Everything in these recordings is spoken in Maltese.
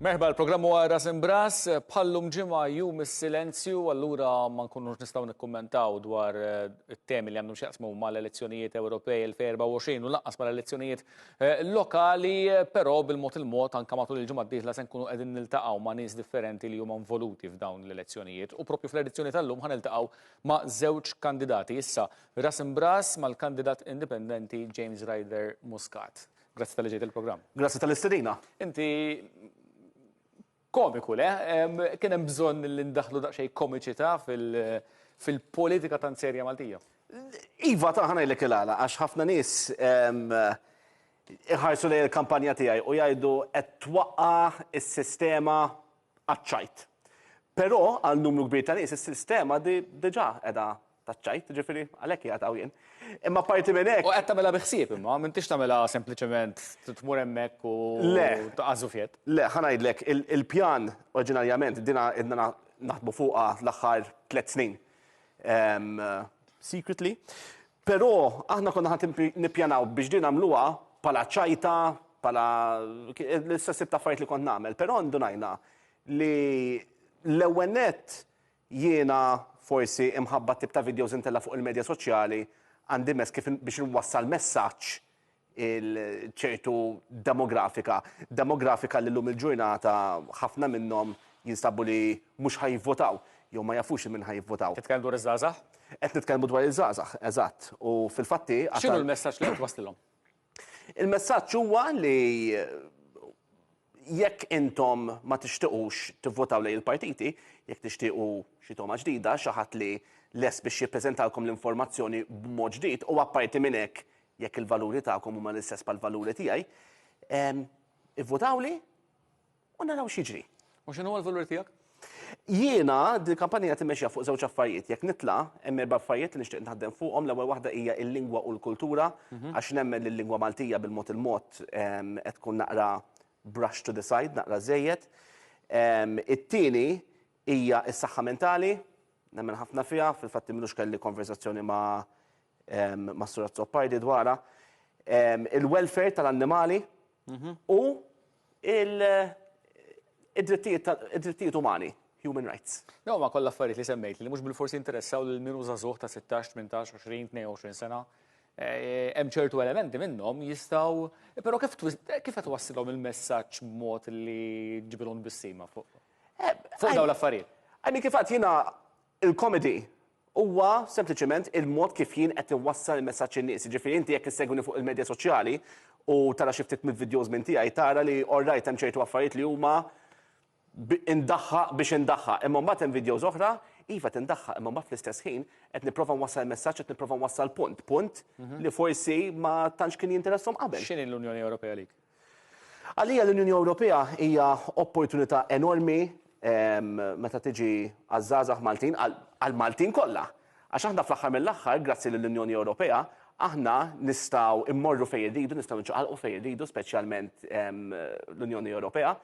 Merħba l-programm huwa Ras Imbras, bħallum ġimgħa jum is-silenzju, allura ma nkunux nistgħu nikkummentaw dwar eh, it-temi li għandhom x'jaqsmu mal-elezzjonijiet Ewropej 2024 u lanqas mal-elezzjonijiet eh, lokali, eh, però bil-mod il-mod anke matul il-ġimgħa d-dieħla se nkunu qegħdin niltaqgħu ma' nies differenti li huma involuti f'dawn l-elezzjonijiet u propju fl-edizzjoni tal-lum ħaniltaqgħu ma' żewġ kandidati. Issa ras imbras mal-kandidat indipendenti James Ryder Muscat. Grazzi tal-li ġejt il-programm. Grazzi tal-istedina. Inti Komiku, le? Kien hemm bżonn li ndaħħlu daqsxejn komiċità fil-politika tant serja Maltija. Iva, ta' ħa ngħidlek il-għala, għax ħafna nies iħarsu lejn il-kampanja tiegħi u jgħidu qed twaqqa' s-sistema għaċ-ċajt. Però għal numru kbir ta' nies is-sistema diġà qiegħda taċ-ċajt, ġifieri għalhekk qiegħed hawn jien. Imma apparti minn hekk. U qed tagħmilha bi ħsieb imma, m'intix tagħmilha sempliċement tmur hemmhekk u taqgħa' żufjett. Le, ħa ngħidlek, il-pjan oriġinarjament dinha ilna naħdmu fuqha l-aħħar tliet snin secretly, però aħna konna ħa nippjanaw biex din nagħmluha bħala ċajta, bħala l-istess tip ta' affarijiet li kont nagħmel, però ndunajna li l-ewwel nett Jiena, forsi, imħabba t-tip ta' videos intella' fuq il-medja soċjali, għandi mezz kif biex inwassal messaġġ il ċertu demografika, demografika li llum il-ġurnata ħafna minnhom jinstabu li mhux ħa jivvotaw, jew ma jafux li minn ħa jivvotaw. Titkellem dwar iż-żgħażagħ? Qed nitkellmu dwar iż-żgħażagħ, eżatt. U fil-fatt hi. X'inhu l-messaġġ li qed twasslilhom? Il-messaġġ huwa li jekk intom ma tixtiqux tivvotaw lejn il-partiti, jekk tixtiequ xi togħma ġdida, xi ħadd li lest biex jippreżentalkom l-informazzjoni b'mod ġdid, u apparti minn hekk jekk il-valuri tagħkom huma l-istess bħall-valuri tiegħi, ivvotawli. u naraw x'jiġri. U x'inhu huwa l-valur tiegħek? Jiena din il-kampanja qed immexxiha fuq żewġ affarijiet. Jekk nitla' hemm erba' affarijiet li nixtieq naħdem fuqhom. L-ewwel waħda hija l-lingwa u l-kultura għax nemmen li l-lingwa Maltija bil-mod il-mod qed tkun naqra brush to the side, naqra żejjed. It-tieni hija s-saħħa mentali, nemmen ħafna fiha, fil-fatt imilux kelli konversazzjoni ma' Mas-Sur Azzopardi dwarha. Il-welfare tal-annimali u il-drittijiet umani, human rights. Dawn huma kollha affarijiet li semmejt li mhux bilfors jinteressaw lil min hu żagħżugħ ta' sittax, tmintax, għoxrin, tnejn u għoxrin sena. Eh, hemm ċertu elementi minnhom jistgħu, però kif kif qed wassilhom il-messaġġ b'mod li ġibilhom bissima fuq eh, fuq dawn l-affarijiet. Għajmi kif għad jiena Il-komedi huwa sempliċement il-mod kif jien qed inwassal il-messaġġ in-nies. Jiġifieri inti jekk issegwini fuq il-medja soċjali u tara xi ftit mill-vidjows minn tiegħi tara li orrajt hemm ċertu affarijiet li huma indaħħaq biex indaħħaq imma mbagħad hemm vidjows oħra iva qed indaħħaq imma mbagħad fl-istess ħin qed nipprova nwassal il-messaġġ qed nipprova nwassal punt, punt li forsi ma tantx kien jinteresshom qabel. X'inhi l-Unjoni Ewropea għalik? Għalija l-Unjoni Ewropea hija opportunità enormi meta tiġi għaż-żgħażagħ Maltin, għall-Maltin kollha. Għax aħna fl-aħħar mill-aħħar, grazzi lill-Unjoni Ewropea, aħna nistgħu mmorru fejn irridu, nistgħu niċċaqalqu fejn irridu, speċjalment l-Unjoni Ewropea.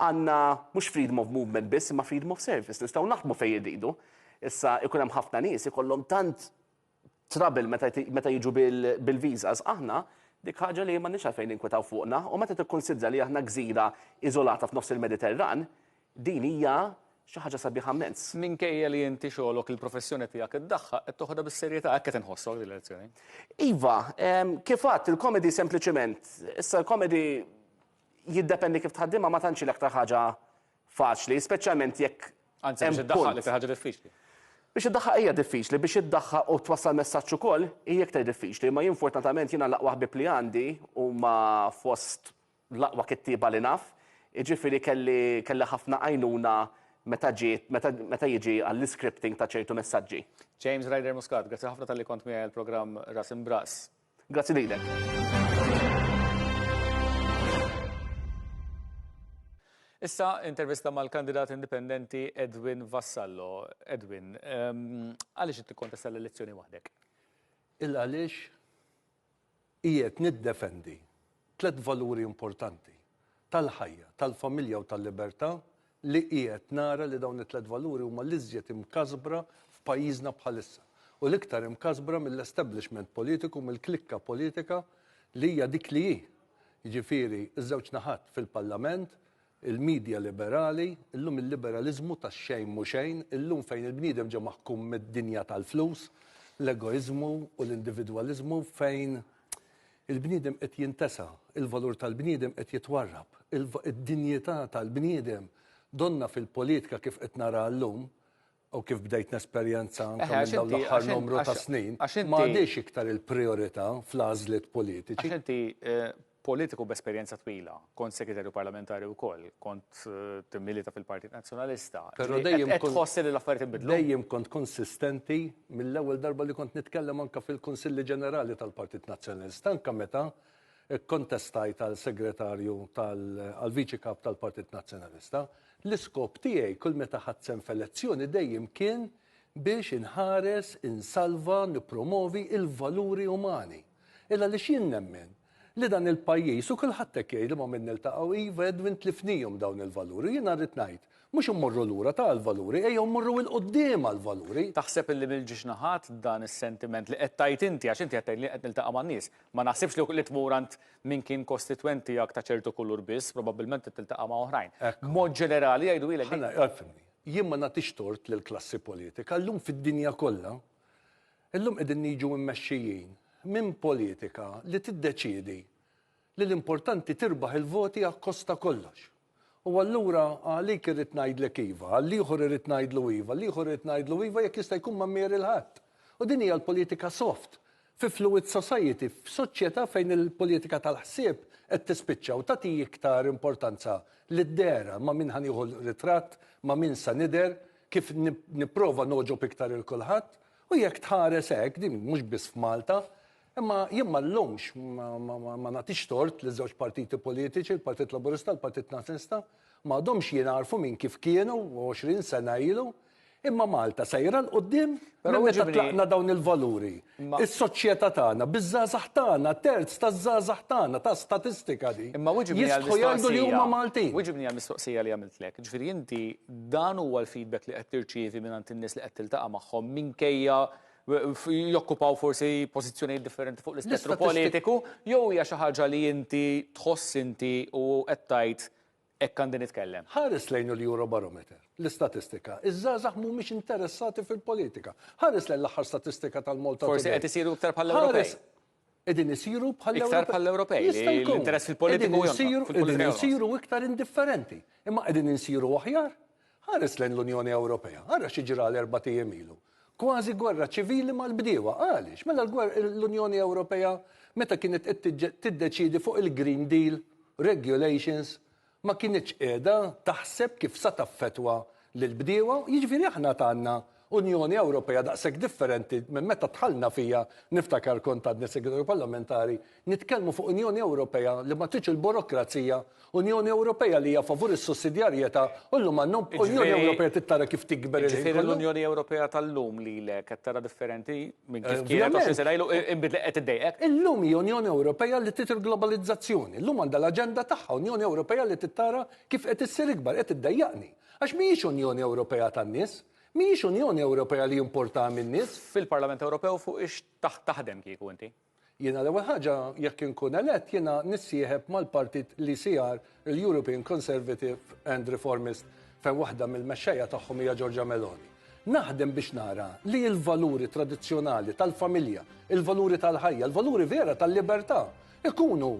Għandna mhux freedom of movement biss imma freedom of service, nistgħu naħdmu fejn irridu. Issa jkun hemm ħafna nies ikollhom tant trouble meta meta jiġu bil-visas, aħna dik ħaġa li m'għandniex għalfejn ninkwetaw fuqna u meta tikkunsidra li aħna gżira iżolata f'nofs il-Mediterran, din hija xi ħaġa sabiħa mmens. Minkejja li inti xogħlok, il-professjoni tiegħek id-daħħa, qed toħodha bis-serjetà, hekk qed inħossok din l-elezzjoni? Iva, kif għedt, il-comedy sempliċement, issa l-comedy jiddependi kif tħaddimha ma tantx hi l-aktar ħaġa faċli, speċjalment jekk Anzi, biex iddaħħaq li fi ħaġa diffiċli. Biex iddaħħaq hija diffiċli, biex iddaħħaq u twassal messaġġ ukoll hija iktar diffiċli, imma jien fortunatament jiena l-aqwa ħbieb li għandi huma fost l-aqwa kittieba li naf, jiġifieri kelli kelli ħafna għajnuna meta ġiet meta meta jiġi għall-iscripting ta' ċertu messaġġi. James Ryder Muscat, grazzi ħafna talli kont miegħi għall-programm Ras Imb'Ras. Grazzi lilek. Issa intervista mal-kandidat indipendenti Edwin Vassallo. Edwin, ehm, għaliex qed tikkontesta l-elezzjoni waħdek? Il għaliex qiegħed niddefendi Tliet valuri importanti, tal-ħajja, tal-familja u tal-libertà, li qiegħed nara li dawn it-tliet valuri huma l-iżjed imkasbra f'pajjiżna bħalissa u l-iktar imkasbra mill-establishment politiku, mill-klikka politika li hija dik li hi, jiġifieri ż-żewġ naħat fil-Parlament, Il-midja liberali, illum il-liberaliżmu tax-xejn mhu xejn, illum fejn il-bniedem ġie maħkum mid-dinja tal-flus, l-egoiżmu u l-individwaliżmu fejn il-bniedem qed jintesa', il-valur tal-bniedem qed jitwarrab, id-dinjità tal-bniedem donnha fil-politika kif qed naraha llum, u kif bdejt nesperjenza anke Eħe, għax minn dawn inti- l-aħħar għax in- numru ta' għax- snin, għax inti- ma għadix iktar il-priorità fl-għażliet Għax politiċi. inti eh, politiku b'esperjenza twila, kont segretarju parlamentari wkoll, kont eh, timmilita fil-Partit Nazzjonalista. Però Ġifieri, dejjem qed- qed kont- tħossi li l-affarijiet inbidlu. Dejjem kont konsistenti mill-ewwel darba li kont nitkellem anke fil-Kunsilli Ġenerali tal-Partit Nazzjonalista, anke meta Ikkontestajt għal Segretarju tal għal Viċi Kap tal-Partit Nazzjonalista. L-iskop tiegħi kull meta ħadt sehem f'elezzjoni dejjem kien biex inħares, insalva, nippromovi l-valuri umani. Il għaliex jien nemmen li dan il-pajjiż u kulħadd hekk jgħid li ma' min niltaqgħu, iva Edwin tlifnihom dawn il-valuri u jiena rrid ngħid, mhux immorru lura ta' għall-valuri, ejjew mmorru 'il quddiem għall-valuri. Taħseb illi mill-ġiex naħat dan is-sentiment li qed tgħid inti, għax inti qed tgħid li qed niltaqa' man-nies, Ma naħsibx li li tmur għand min kien kostitwent tiegħek ta' ċertu kulur biss, probabbilment tiltaqa' ma' oħrajn. B'mod ġenerali jgħidulek. Ħa ngħid, ifhimni. Jien ma nagħtix tort lill-klassi politika. Illum fid-dinja kollha, illum qegħdin niġu mmexxijin minn politika li tiddeċiedi li l-importanti tirbaħ il-voti akkost ta' kollox. U allura għalik irrid ngħidlek iva, għall-ieħor irrid ngħidlu iva, għall-ieħor irrid ngħidlu iva jekk jista' jkun ma mmieri 'l ħadd. U din hija l-politika soft, fi fluid society, f'soċjetà fejn il-politika tal-ħsieb qed tispiċċa u tagħti iktar importanza lid-dehra, ma' min ħa nieħu ritratt, ma' min sa nidher, kif nipprova nogħġob iktar 'il kulħadd. U jekk tħares hekk, din mhux biss f'Malta, Imma jien ma nlumx, ma nagħtix tort liż-żewġ partiti politiċi, il-Partit Laburista, il-Partit Nazzjonalista, ma għadhomx jingħarfu minn kif kienu 20 sena ilu, imma Malta sejra 'l quddiem minn meta tlaqna dawn il-valuri. Is-soċjetà tagħna, biż-żgħażagħ tagħna, terz taż-żgħażagħ tagħna, ta' statistika di, jistħu jgħidu li huma Maltin. Wiġibni għall-mistoqsija li għamiltlek. Ġifieri inti dan huwa l-feedback li qed tirċievi mingħand in-nies li qed tiltaqa' magħhom minkejja jokkupaw forsi pożizzjonijiet differenti fuq l-ispettru politiku, jew hija xi ħaġa li inti tħoss inti u qed tgħid hekk għandi nitkellem? Ħares lejn il-Eurobarometer, l-istatistika. Iż-żgħażagħ mhumiex interessati fil-politika. Ħares lejn l-aħħar statistika tal-Malta Today. Forsi qed isiru iktar bħall-Ewropej. Qegħdin isiru bħall-Ewropej. Iktar bħall-Ewropej. Jista' jkun. L-interess fil-politiku jsiru. Qegħdin isiru iktar indifferenti. Imma qegħdin insiru aħjar? Ħares lejn l-Unjoni Ewropea. Ara xi ġra l-erbat ijiem ilu. Kważi gwerra ċivili mal-bdiewa. Għaliex? Mela l-Unjoni Ewropea meta kienet qed tiddeċiedi fuq il-Green Deal, regulations, ma kinitx qiegħda taħseb kif sa taffettwa lill-bdiewa, jiġifieri aħna għandna Unjoni Ewropea daqshekk differenti minn meta dħalna fiha, niftakar kont għadni Segretarju Parlamentari, nitkellmu fuq Unjoni Ewropea li ma tridx il-burokrazija, Unjoni Ewropea li hija favur is-sussidjarjetà u llum għandna Unjoni Ewropea trid tara kif tikber il-ħin kollu. Jiġifieri l-Unjoni Ewropea tal-lum lilek qed tara differenti? Minn kif kienet 20 sena ilu inbidli qed iddejqek. Illum hi Unjoni Ewropea li trid il-globalizzazzjoni. Illum għandha l-aġenda tagħha, Unjoni Ewropea li trid tara kif qed issir ikbar, qed iddejjaqni. Għax mhijiex Unjoni Ewropea tan-nies. Mhijiex Unjoni Ewropea li importaha min-nies. Fil-Parlament Ewropew fuq ix taħdem kieku inti? Jiena l-ewwel ħaġa jekk inkun elett jiena nissieħeb mal-partit l-ECR, il-European Conservative and Reformist, fejn waħda mill-mexxejja tagħhom hija Giorgia Meloni. Naħdem biex nara li l-valuri tradizzjonali tal-familja, il-valuri tal-ħajja, il-valuri vera tal-libertà ikunu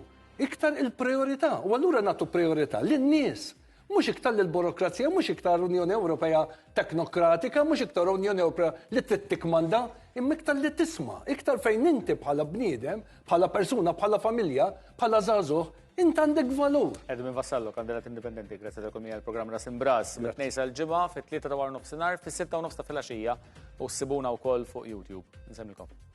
iktar il-prijorità u allura nagħtu prijorità lin-nies Mhux iktar lill-burokrazija, mhux iktar Unjoni Ewropea teknokratika, mhux iktar Unjoni Ewropea li trid tikkmanda, imma iktar li tisma', iktar fejn inti bħala bniedem, bħala persuna, bħala familja, bħala żagħżugħ, int għandek valur. Edu minn Vassallo, kandidat indipendenti, grazzi tal kumija l-programm Ras Imbras, mit-tnejn sal-ġimgħa, fit-tlieta ta' war nofsinhar, fis-sitta u nofs ta' filgħaxija, u ssibuna wkoll fuq YouTube. Nsemmilkom.